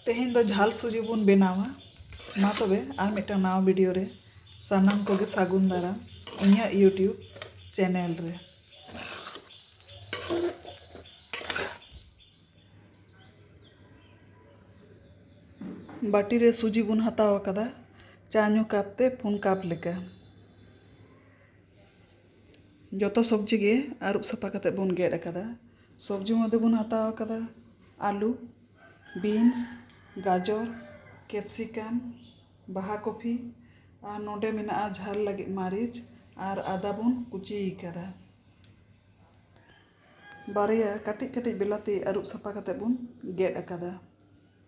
ᱛᱮᱦᱮᱧ ᱫᱚ ᱡᱷᱟᱞ ᱥᱩᱡᱤ ᱵᱚᱱ ᱵᱮᱱᱟᱣᱟ ᱢᱟ ᱛᱚᱵᱮ ᱟᱨ ᱢᱤᱫᱴᱟᱝ ᱱᱟᱣᱟ ᱵᱷᱤᱰᱤᱭᱳ ᱨᱮ ᱥᱟᱱᱟᱢ ᱠᱚᱜᱮ ᱥᱟᱹᱜᱩᱱ ᱫᱟᱨᱟᱢ ᱤᱧᱟᱹᱜ ᱤᱭᱩᱴᱤᱭᱩᱵᱽ ᱪᱮᱱᱮᱞ ᱨᱮ ᱵᱟᱹᱴᱤ ᱨᱮ ᱥᱩᱡᱤ ᱵᱚᱱ ᱦᱟᱛᱟᱣ ᱟᱠᱟᱫᱟ ᱪᱟ ᱧᱩ ᱠᱟᱯ ᱛᱮ ᱯᱩᱱ ᱠᱟᱯ ᱞᱮᱠᱟ ᱡᱚᱛᱚ ᱥᱚᱵᱽᱡᱤ ᱜᱮ ᱟᱹᱨᱩᱵ ᱥᱟᱯᱷᱟ ᱠᱟᱛᱮᱫ ᱵᱚᱱ ᱜᱮᱫ ᱟᱠᱟᱫᱟ ᱥᱚᱵᱽᱡᱤ ᱢᱚᱫᱽᱫᱷᱮ ᱵᱚᱱ ᱦᱟᱛᱟᱣ ᱟᱠᱟᱫᱟ ᱟᱹᱞᱩ ᱵᱤᱱᱥ ᱜᱟᱡᱚᱨ ᱠᱮᱯᱥᱤᱠᱟᱢ ᱵᱟᱦᱟ ᱠᱚᱯᱷᱤ ᱟᱨ ᱱᱚᱸᱰᱮ ᱢᱮᱱᱟᱜᱼᱟ ᱡᱷᱟᱞ ᱞᱟᱹᱜᱤᱫ ᱢᱟᱹᱨᱤᱪ ᱟᱨ ᱟᱫᱟ ᱵᱚᱱ ᱠᱩᱪᱤ ᱟᱠᱟᱫᱟ ᱵᱟᱨᱭᱟ ᱠᱟᱹᱴᱤᱡ ᱠᱟᱹᱴᱤᱡ ᱵᱤᱞᱟᱹᱛᱤ ᱟᱹᱨᱩᱵ ᱥᱟᱯᱷᱟ ᱠᱟᱛᱮᱫ ᱵᱚᱱ ᱜᱮᱫ ᱟᱠᱟᱫᱟ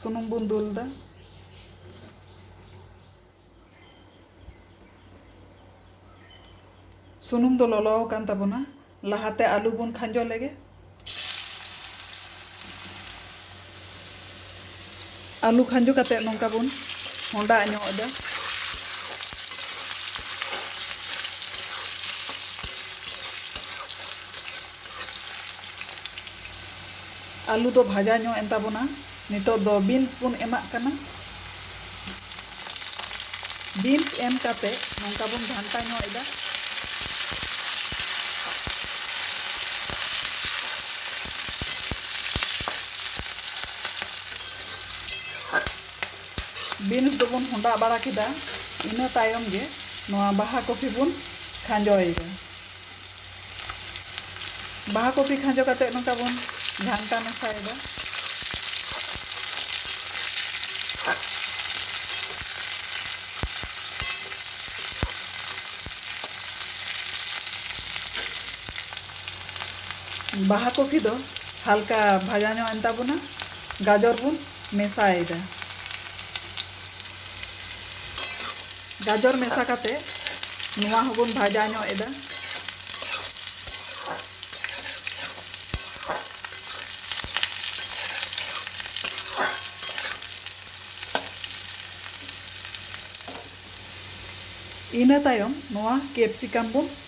ᱥᱩᱱᱩᱢ ᱵᱚᱱ ᱫᱩᱞ ᱮᱫᱟ᱾ ᱥᱩᱱᱩᱢ ᱫᱚ ᱞᱚᱞᱚ ᱟᱠᱟᱱ ᱛᱟᱵᱚᱱᱟ᱾ ᱞᱟᱦᱟᱛᱮ ᱟᱹᱞᱩ ᱵᱚᱱ ᱠᱷᱟᱸᱡᱚ ᱞᱮᱜᱮ᱾ ᱟᱹᱞᱩ ᱠᱷᱟᱸᱡᱚ ᱠᱟᱛᱮ ᱱᱚᱝᱠᱟ ᱵᱚᱱ ᱦᱚᱸᱰᱟ ᱧᱚᱜ ᱮᱫᱟ᱾ ᱟᱹᱞᱩ ᱫᱚ ᱵᱷᱟᱡᱟ ᱧᱚᱜ ᱮᱱ ᱛᱟᱵᱚᱱᱟ ᱱᱤᱛᱚᱜ ᱫᱚ ᱵᱤᱱᱥ ᱵᱚᱱ ᱮᱢᱟᱜ ᱠᱟᱱᱟ ᱵᱤᱱᱥ ᱮᱢ ᱠᱟᱛᱮ ᱱᱚᱝᱠᱟ ᱵᱚᱱ ᱜᱷᱟᱱᱴᱟ ᱧᱚᱜ ᱮᱫᱟ ᱵᱤᱱᱥ ᱫᱚᱵᱚᱱ ᱦᱚᱸᱰᱟ ᱵᱟᱲᱟ ᱠᱮᱫᱟ ᱤᱱᱟᱹ ᱛᱟᱭᱚᱢ ᱜᱮ ᱱᱚᱣᱟ ᱵᱟᱦᱟ ᱠᱚᱯᱷᱤ ᱵᱚᱱ ᱠᱷᱟᱸᱡᱚᱭᱮᱫᱟ ᱵᱟᱦᱟ ᱠᱚᱯᱤ ᱠᱷᱟᱸᱡᱚ ᱠᱟᱛᱮ ᱱᱚᱝᱠᱟ ᱵᱚᱱ ᱜᱷᱟᱱᱴᱟ ᱢᱮᱥᱟᱭᱮᱫᱟ ᱵᱟᱦᱟ ᱠᱚᱯᱤ ᱫᱚ ᱦᱟᱞᱠᱟ ᱵᱷᱟᱡᱟ ᱧᱚᱜ ᱮᱱ ᱛᱟᱵᱚᱱᱟ ᱜᱟᱡᱚᱨ ᱵᱚᱱ ᱢᱮᱥᱟᱭᱮᱫᱟ ᱜᱟᱡᱚᱨ ᱢᱮᱥᱟ ᱠᱟᱛᱮ ᱱᱚᱣᱟ ᱦᱚᱸᱵᱚᱱ ᱵᱷᱟᱡᱟ ᱧᱚᱜ ᱮᱫᱟ ᱤᱱᱟᱹ ᱛᱟᱭᱚᱢ ᱱᱚᱣᱟ ᱠᱮᱯᱥᱤᱠᱟᱢ ᱵᱚᱱ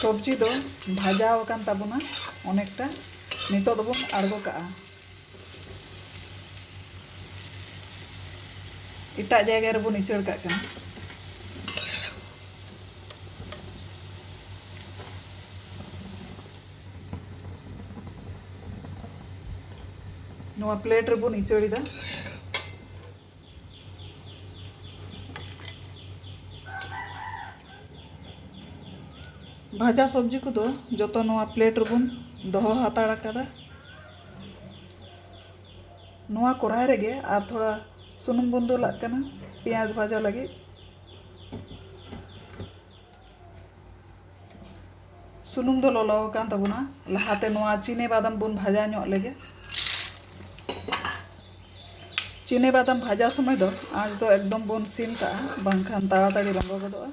ᱥᱚᱵᱽᱡᱤ ᱫᱚ ᱵᱷᱟᱡᱟ ᱟᱠᱟᱱ ᱛᱟᱵᱚᱱᱟ ᱚᱱᱮᱠᱴᱟ ᱱᱤᱛᱚᱜ ᱫᱚᱵᱚᱱ ᱟᱬᱜᱚ ᱠᱟᱜᱼᱟ ᱮᱴᱟᱜ ᱡᱟᱭᱜᱟ ᱨᱮᱵᱚᱱ ᱤᱪᱟᱹᱲ ᱠᱟᱜ ᱠᱟᱱᱟ ᱱᱚᱣᱟ ᱯᱞᱮᱴ ᱨᱮᱵᱚᱱ ᱤᱪᱟᱹᱲᱮᱫᱟ ᱵᱷᱟᱡᱟ ᱥᱚᱵᱽᱡᱤ ᱠᱚᱫᱚ ᱡᱚᱛᱚ ᱱᱚᱣᱟ ᱯᱞᱮᱴ ᱨᱮᱵᱚᱱ ᱫᱚᱦᱚ ᱦᱟᱛᱟᱲ ᱟᱠᱟᱫᱟ ᱱᱚᱣᱟ ᱠᱚᱨᱟᱭ ᱨᱮᱜᱮ ᱟᱨ ᱛᱷᱚᱲᱟ ᱥᱩᱱᱩᱢ ᱵᱚᱱ ᱫᱩᱞᱟᱜ ᱠᱟᱱᱟ ᱯᱮᱸᱭᱟᱡᱽ ᱵᱷᱟᱡᱟ ᱞᱟᱹᱜᱤᱫ ᱥᱩᱱᱩᱢ ᱫᱚ ᱞᱚᱞᱚ ᱟᱠᱟᱱ ᱛᱟᱵᱚᱱᱟ ᱞᱟᱦᱟᱛᱮ ᱱᱚᱣᱟ ᱪᱤᱱᱮ ᱵᱟᱫᱟᱢ ᱵᱚᱱ ᱵᱷᱟᱡᱟ ᱧᱚᱜ ᱞᱮᱜᱮ ᱪᱤᱱᱮ ᱵᱟᱫᱟᱢ ᱵᱷᱟᱡᱟ ᱥᱚᱢᱚᱭ ᱫᱚ ᱟᱸᱪ ᱫᱚ ᱮᱠᱫᱚᱢ ᱵᱚᱱ ᱥᱤᱢ ᱠᱟᱜᱼᱟ ᱵᱟᱝᱠᱷᱟᱱ ᱛᱟᱲᱟᱛᱟᱲᱤ ᱞᱚᱞᱚ ᱜᱚᱫᱚᱜᱼᱟ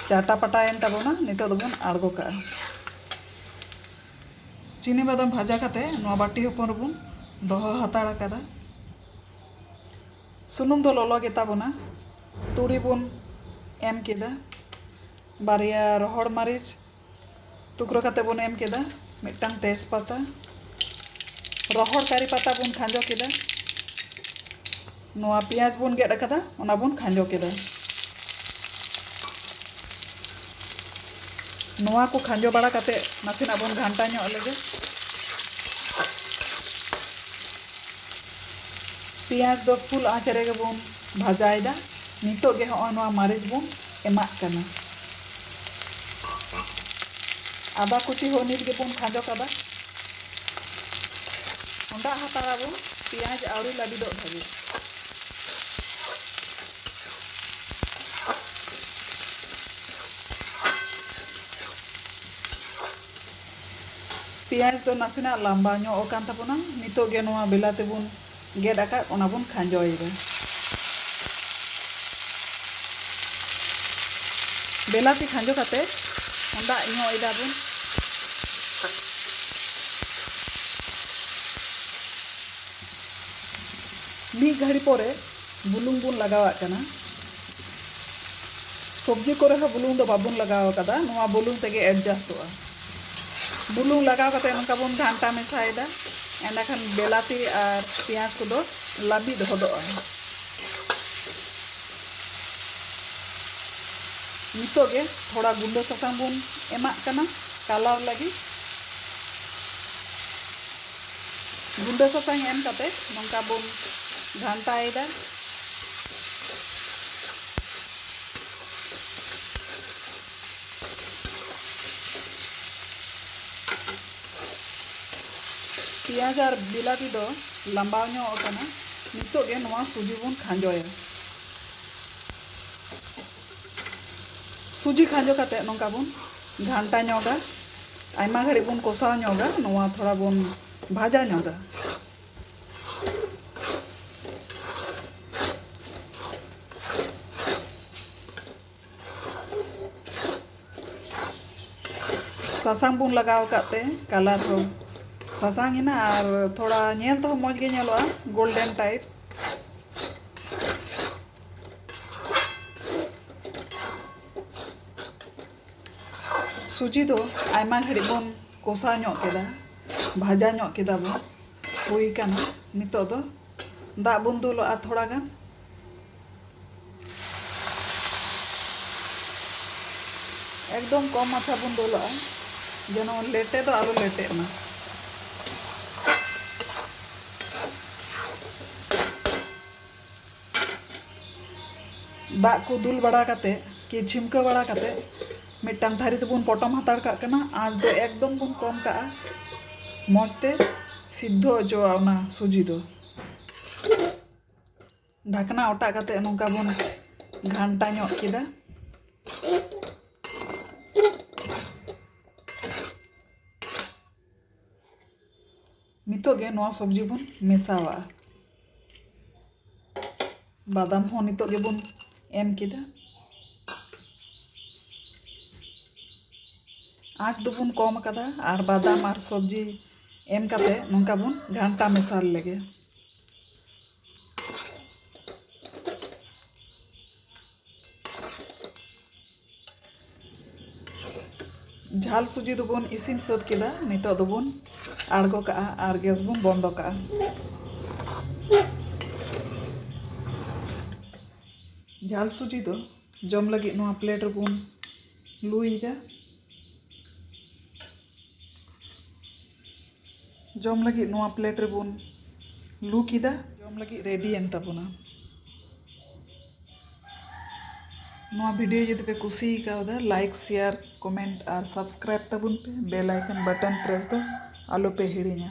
ᱪᱟᱴᱟ ᱯᱟᱴᱟᱭᱮᱱ ᱛᱟᱵᱚᱱᱟ ᱱᱤᱛᱚᱜ ᱫᱚᱵᱚᱱ ᱟᱬᱜᱚ ᱠᱟᱜᱼᱟ ᱪᱤᱱᱤ ᱵᱟᱫᱟᱢ ᱵᱷᱟᱡᱟ ᱠᱟᱛᱮ ᱱᱚᱣᱟ ᱵᱟᱹᱴᱤ ᱦᱚᱯᱚᱱ ᱨᱮᱵᱚᱱ ᱫᱚᱦᱚ ᱦᱟᱛᱟᱲ ᱟᱠᱟᱫᱟ ᱥᱩᱱᱩᱢ ᱫᱚ ᱞᱚᱞᱚ ᱜᱮ ᱛᱟᱵᱚᱱᱟ ᱛᱩᱲᱤ ᱵᱚᱱ ᱮᱢ ᱠᱮᱫᱟ ᱵᱟᱨᱭᱟ ᱨᱚᱦᱚᱲ ᱢᱟᱹᱨᱤᱪ ᱴᱩᱠᱨᱟᱹ ᱠᱟᱛᱮ ᱵᱚᱱ ᱮᱢ ᱠᱮᱫᱟ ᱢᱤᱫᱴᱟᱝ ᱛᱮᱡᱽ ᱯᱟᱛᱟ ᱨᱚᱦᱚᱲ ᱠᱟᱹᱨᱤ ᱯᱟᱛᱟ ᱵᱚᱱ ᱠᱷᱟᱸᱡᱚ ᱠᱮᱫᱟ ᱱᱚᱣᱟ ᱯᱮᱸᱭᱟᱡᱽ ᱵᱚᱱ ᱜᱮᱫ ᱟᱠᱟᱫᱟ ᱚᱱᱟ ᱵᱚᱱ ᱠᱷᱟᱸᱡᱚ ᱠᱮᱫᱟ ᱱᱚᱣᱟ ᱠᱚ ᱠᱷᱟᱸᱡᱚ ᱵᱟᱲᱟ ᱠᱟᱛᱮ ᱱᱟᱥᱮᱱᱟᱜ ᱵᱚᱱ ᱜᱷᱟᱱᱴᱟ ᱧᱚᱜ ᱞᱮᱜᱮ ᱯᱮᱸᱭᱟᱡᱽ ᱫᱚ ᱯᱷᱩᱞ ᱟᱸᱪ ᱨᱮᱜᱮ ᱵᱚᱱ ᱵᱷᱟᱡᱟᱭᱮᱫᱟ᱾ ᱱᱤᱛᱚᱜ ᱜᱮ ᱦᱚᱸᱜᱼᱚᱭ ᱱᱚᱣᱟ ᱢᱟᱹᱨᱤᱪ ᱵᱚᱱ ᱮᱢᱟᱜ ᱠᱟᱱᱟ᱾ ᱟᱫᱟ ᱠᱩᱪᱤ ᱦᱚᱸ ᱱᱤᱛ ᱜᱮ ᱵᱚᱱ ᱠᱷᱟᱸᱡᱚ ᱠᱟᱫᱟ᱾ ᱚᱸᱰᱟᱜ ᱦᱟᱛᱟᱲᱟ ᱵᱚᱱ ᱯᱮᱸᱭᱟᱡᱽ ᱟᱹᱣᱨᱤ ᱞᱟᱹᱵᱤᱫᱚᱜ ᱫᱷᱟᱹᱵᱤᱡ᱾ ᱯᱮᱭᱟᱸᱡᱽ ᱫᱚ ᱱᱟᱥᱮᱱᱟᱜ ᱞᱟᱢᱵᱟ ᱧᱚᱜ ᱟᱠᱟᱱ ᱛᱟᱵᱚᱱᱟ᱾ ᱱᱤᱛᱚᱜ ᱜᱮ ᱱᱚᱣᱟ ᱵᱮᱞᱟᱛᱤ ᱵᱚᱱ ᱜᱮᱫ ᱟᱠᱟᱫ ᱚᱱᱟ ᱵᱚᱱ ᱠᱷᱟᱸᱡᱚᱭᱮᱫᱟ᱾ ᱵᱮᱞᱟᱛᱤ ᱠᱷᱟᱸᱡᱚ ᱠᱟᱛᱮ ᱦᱚᱸᱰᱟᱜ ᱧᱚᱜ ᱮᱫᱟ ᱵᱚᱱ᱾ ᱢᱤᱫ ᱜᱷᱟᱹᱲᱤ ᱯᱚᱨᱮ ᱵᱩᱞᱩᱝ ᱵᱚᱱ ᱞᱟᱜᱟᱣᱟᱜ ᱠᱟᱱᱟ ᱥᱚᱵᱽᱡᱤ ᱠᱚᱨᱮ ᱦᱚᱸ ᱵᱩᱞᱩᱝ ᱫᱚ ᱵᱟᱵᱚᱱ ᱞᱟᱜᱟᱣ ᱟᱠᱟᱫᱟ ᱱᱚᱣᱟ ᱵᱩᱞᱩᱝ ᱛᱮᱜᱮ ᱮᱰᱡᱟᱥᱴᱚᱜᱼᱟ ᱵᱩᱞᱩᱝ ᱞᱟᱜᱟᱣ ᱠᱟᱛᱮ ᱱᱚᱝᱠᱟ ᱵᱚᱱ ᱜᱷᱟᱱᱴᱟ ᱢᱮᱥᱟᱭᱮᱫᱟ ᱮᱸᱰᱮᱠᱷᱟᱱ ᱵᱮᱞᱟᱛᱤ ᱟᱨ ᱯᱮᱸᱭᱟᱡᱽ ᱠᱚᱫᱚ ᱞᱟᱹᱵᱤᱫ ᱦᱚᱫᱚᱜᱼᱟ ᱱᱤᱛᱚᱜ ᱜᱮ ᱛᱷᱚᱲᱟ ᱜᱩᱸᱰᱟᱹ ᱥᱟᱥᱟᱝ ᱵᱚᱱ ᱮᱢᱟᱜ ᱠᱟᱱᱟ ᱠᱟᱞᱟᱨ ᱞᱟᱹᱜᱤᱫ ᱜᱩᱸᱰᱟᱹ ᱥᱟᱥᱟᱝ ᱮᱢ ᱠᱟᱛᱮ ᱱᱚᱝᱠᱟ ᱵᱚᱱ ᱜᱷᱟᱱᱴᱟᱭᱮᱫᱟ ᱯᱮᱸᱭᱟᱡᱽ ᱟᱨ ᱵᱤᱞᱟᱹᱛᱤ ᱫᱚ ᱞᱟᱢᱵᱟᱣ ᱧᱚᱜ ᱟᱠᱟᱱᱟ ᱱᱤᱛᱚᱜ ᱜᱮ ᱱᱚᱣᱟ ᱥᱩᱡᱤ ᱵᱚᱱ ᱠᱷᱟᱸᱡᱚᱭᱟ ᱥᱩᱡᱤ ᱠᱷᱟᱸᱡᱚ ᱠᱟᱛᱮ ᱱᱚᱝᱠᱟ ᱵᱚᱱ ᱜᱷᱟᱱᱴᱟ ᱧᱚᱜᱟ ᱟᱭᱢᱟ ᱜᱷᱟᱹᱲᱤᱡ ᱵᱚᱱ ᱠᱚᱥᱟᱣ ᱧᱚᱜᱟ ᱱᱚᱣᱟ ᱛᱷᱚᱲᱟ ᱵᱚᱱ ᱵᱷᱟᱡᱟ ᱧᱚᱜᱟ ᱥᱟᱥᱟᱝ ᱵᱚᱱ ᱞᱟᱜᱟᱣ ᱟᱠᱟᱫ ᱛᱮ ᱠᱟᱞᱟᱨ ᱦᱚᱸ ᱥᱟᱥᱟᱝ ᱮᱱᱟ ᱟᱨ ᱛᱷᱚᱲᱟ ᱧᱮᱞ ᱛᱮᱦᱚᱸ ᱢᱚᱡᱽ ᱜᱮ ᱧᱮᱞᱚᱜᱼᱟ ᱜᱳᱞᱰᱮᱱ ᱴᱟᱭᱤᱯ ᱥᱩᱡᱤ ᱫᱚ ᱟᱭᱢᱟ ᱜᱷᱟᱹᱲᱤᱡ ᱵᱚᱱ ᱠᱚᱥᱟᱣ ᱧᱚᱜ ᱠᱮᱫᱟ ᱵᱷᱟᱡᱟ ᱧᱚᱜ ᱠᱮᱫᱟ ᱵᱚᱱ ᱦᱩᱭ ᱠᱟᱱᱟ ᱱᱤᱛᱚᱜ ᱫᱚ ᱫᱟᱜ ᱵᱚᱱ ᱫᱩᱞᱟᱜᱼᱟ ᱛᱷᱚᱲᱟ ᱜᱟᱱ ᱮᱠᱫᱚᱢ ᱠᱚᱢ ᱢᱟᱪᱷᱟ ᱵᱚᱱ ᱫᱩᱞᱟᱜᱼᱟ ᱡᱮᱱᱚ ᱞᱮᱴᱮ ᱫᱚ ᱟᱞᱚ ᱞᱮᱴᱮᱜ ᱢᱟ ᱫᱟᱜ ᱠᱚ ᱫᱩᱞ ᱵᱟᱲᱟ ᱠᱟᱛᱮ ᱠᱤ ᱪᱷᱤᱢᱠᱟᱹ ᱵᱟᱲᱟ ᱠᱟᱛᱮ ᱢᱤᱫᱴᱟᱝ ᱛᱷᱟᱹᱨᱤ ᱛᱮᱵᱚᱱ ᱯᱚᱴᱚᱢ ᱦᱟᱛᱟᱲ ᱠᱟᱜ ᱠᱟᱱᱟ ᱟᱸᱪ ᱫᱚ ᱮᱠᱫᱚᱢ ᱵᱚᱱ ᱠᱚᱢ ᱠᱟᱜᱼᱟ ᱢᱚᱡᱽ ᱛᱮ ᱥᱤᱫᱽᱫᱷᱚ ᱦᱚᱪᱚᱣᱟᱜᱼᱟ ᱚᱱᱟ ᱥᱩᱡᱤ ᱫᱚ ᱰᱷᱟᱠᱱᱟ ᱚᱴᱟᱜ ᱠᱟᱛᱮ ᱱᱚᱝᱠᱟ ᱵᱚᱱ ᱜᱷᱟᱱᱴᱟ ᱧᱚᱜ ᱠᱮᱫᱟ ᱱᱤᱛᱚᱜ ᱜᱮ ᱱᱚᱣᱟ ᱥᱚᱵᱽᱡᱤ ᱵᱚᱱ ᱢᱮᱥᱟᱣᱟᱜᱼᱟ ᱵᱟᱫᱟᱢ ᱦᱚᱸ ᱱᱤᱛᱚᱜ ᱜᱮᱵᱚᱱ ᱮᱢ ᱠᱮᱫᱟ ᱟᱸᱪ ᱫᱚᱵᱚᱱ ᱠᱚᱢ ᱟᱠᱟᱫᱟ ᱟᱨ ᱵᱟᱫᱟᱢ ᱟᱨ ᱥᱚᱵᱽᱡᱤ ᱮᱢ ᱠᱟᱛᱮ ᱱᱚᱝᱠᱟ ᱵᱚᱱ ᱜᱷᱟᱱᱴᱟ ᱢᱮᱥᱟᱞ ᱞᱮᱜᱮ ᱡᱷᱟᱞ ᱥᱩᱡᱤ ᱫᱚᱵᱚᱱ ᱤᱥᱤᱱ ᱥᱟᱹᱛ ᱠᱮᱫᱟ ᱱᱤᱛᱚᱜ ᱫᱚᱵᱚᱱ ᱟᱬᱜᱚ ᱠᱟᱜᱼᱟ ᱟᱨ ᱜᱮᱥ ᱵᱚᱱ ᱵᱚᱱᱫᱚ ᱠᱟᱜᱼᱟ ᱡᱷᱟᱞ ᱥᱩᱡᱤ ᱫᱚ ᱡᱚᱢ ᱞᱟᱹᱜᱤᱫ ᱱᱚᱣᱟ ᱯᱞᱮᱴ ᱨᱮᱵᱚᱱ ᱞᱩᱭᱮᱫᱟ ᱡᱚᱢ ᱞᱟᱹᱜᱤᱫ ᱱᱚᱣᱟ ᱯᱞᱮᱴ ᱨᱮᱵᱚᱱ ᱞᱩ ᱠᱮᱫᱟ᱾ ᱡᱚᱢ ᱞᱟᱹᱜᱤᱫ ᱨᱮᱰᱤᱭᱮᱱ ᱛᱟᱵᱚᱱᱟ᱾ ᱱᱚᱣᱟ ᱵᱷᱤᱰᱤᱭᱳ ᱡᱩᱫᱤ ᱯᱮ ᱠᱩᱥᱤ ᱟᱠᱟᱣᱫᱟ ᱞᱟᱭᱤᱠ, ᱥᱮᱭᱟᱨ, ᱠᱚᱢᱮᱱᱴ ᱟᱨ ᱥᱟᱵᱥᱠᱨᱟᱭᱤᱵ ᱛᱟᱵᱚᱱ ᱯᱮ᱾ ᱵᱮᱞ ᱟᱭᱠᱚᱱ ᱵᱟᱴᱚᱱ ᱯᱨᱮᱥ ᱫᱚ ᱟᱞᱚ ᱯᱮ ᱦᱤᱲᱤᱧᱟ᱾